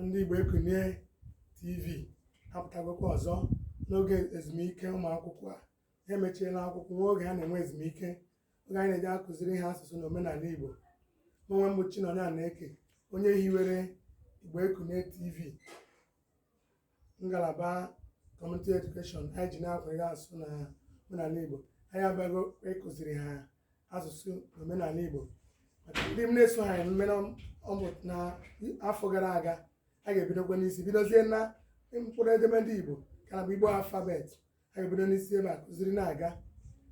ndị Igbo Ekunie TV apụtagokwa ọzọ n'oge ezumike ụmụ akwụkwọ a emechiela akwụkwọ nwa oge a na-enwe ezumike oge anyị na-eji akụziri ha asụsụ na omenala Igbo onwe m bụ Chinonye Anaeke onye hiwere Igbo Ekunie TV ngalaba community education anyị ji na-akwanyere asụsụ na omenala Igbo anyị abịago ịkụziri ha asụsụ na omenala Igbo maka ndị m na-eso ha emume na afọ gara aga a ga-ebidokwa n'isi bidozie na mkpụrụ edemede Igbo ka na bụ Igbo alphabet a ga-ebido n'isi ebe a kụziri na-aga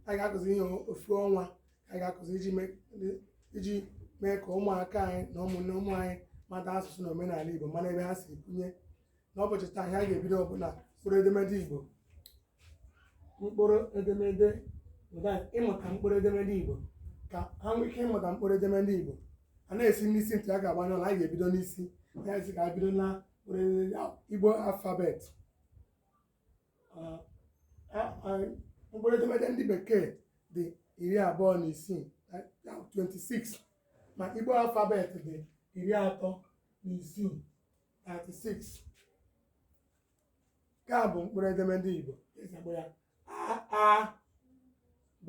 a ga-akụzi ihe ofu ọnwa a ga-akụzi iji mee iji mee ka ụmụaka anyị na ụmụnne ụmụ anyị mata asụsụ na omenala Igbo mara ebe ha si kwunye n'ụbọchị taa ihe a ga-ebido ọ bụ na mkpụrụ edemede Igbo mkpụrụ edemede ịmụta mkpụrụ edemede Igbo ka ha nwee ike ịmụta mkpụrụ edemede Igbo a na-esi n'isi ntị a ga-agbanye ọla anyị ga-ebido n'isi ya esi ka a bido na mkpụrụ edemede Igbo alphabet mkpụrụ edemede ndị bekee dị iri abụọ na isii 26 ma igbo alphabet dị iri atọ na isii 36 nke a bụ mkpụrụ edemede igbo esi akpọ ya a a b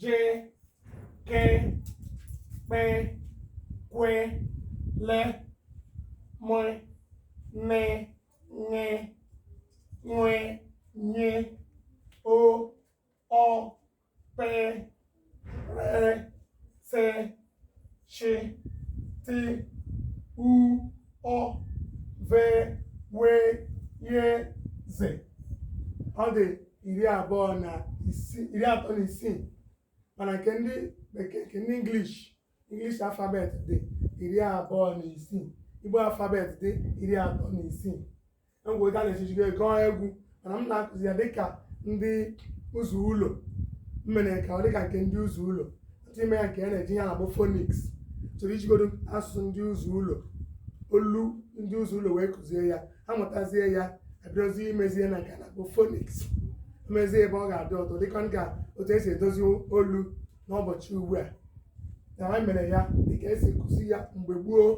je ke kpe kwe le me ne ṅe nwe nye o ọ pe re se she ti u ụ ve we ye ze ọ dị iri abụọ na isii iri atọ na isii mana nke ndị bekee nke ndị English English alphabet dị iri abụọ na isii Igbo alphabet dị iri atọ na isii ngwa ụda na-echichigo ego egwu mana m na-akụzi ya dịka ndị ụzọ ụlọ m mere ka ọ dịka nke ndị ụzọ ụlọ ntụ ime ya nke a na-eji ya na-akpọ phonics chọrọ ijigodo asụsụ ndị ụzọ ụlọ olu ndị ụzọ ụlọ wee kụzie ya ha mụtazie ya ebidozi imezie na nke a na-akpọ phonics mezie ebe ọ ga-adị ọtọ dịka nka otu esi edozi olu n'ụbọchị ugbu a na ha mere ya dịka esi kụzi ya mgbe gboo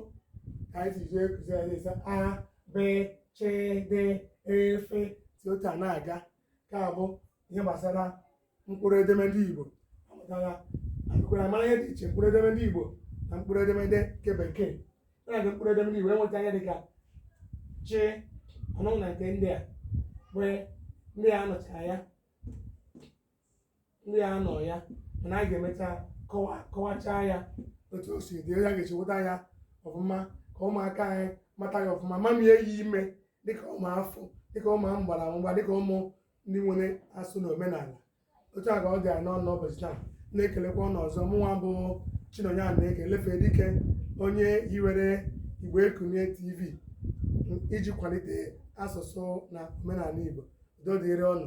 ka anyị si jee kụzi ya na-asị a be che de fe si otu a na-aga nke a bụ ihe gbasara mkpụrụ edemede igbo amụtara akụkwara mara ihe dị iche mkpụrụ edemede igbo na mkpụrụ edemede nke bekee na-aga mkpụrụ edemede igbo enweta ihe dịka chi anụ na nke ndị a wee ndị a nụchara ya ndị ya nọ ya mana anyị ga-emecha kọwa kọwachaa ya otu o si dị ya ga-esi weta ya ọfụma ka ụmụaka anyị mata ya ọfụma ma mie ya ime dịka ụmụ afọ dịka ụmụ mgbara mgba dịka ụmụ ndị nwere asụsụ na omenala otu a ka ọ dị anyị n'ọnụ n'ụbọchị taa na-ekelekwa ụnụ ọzọ mụnwa bụ chinonye a na-eke lefe dike onye hiwere igbo ekunie tv iji kwalite asụsụ na omenala igbo udo dịrị ụnụ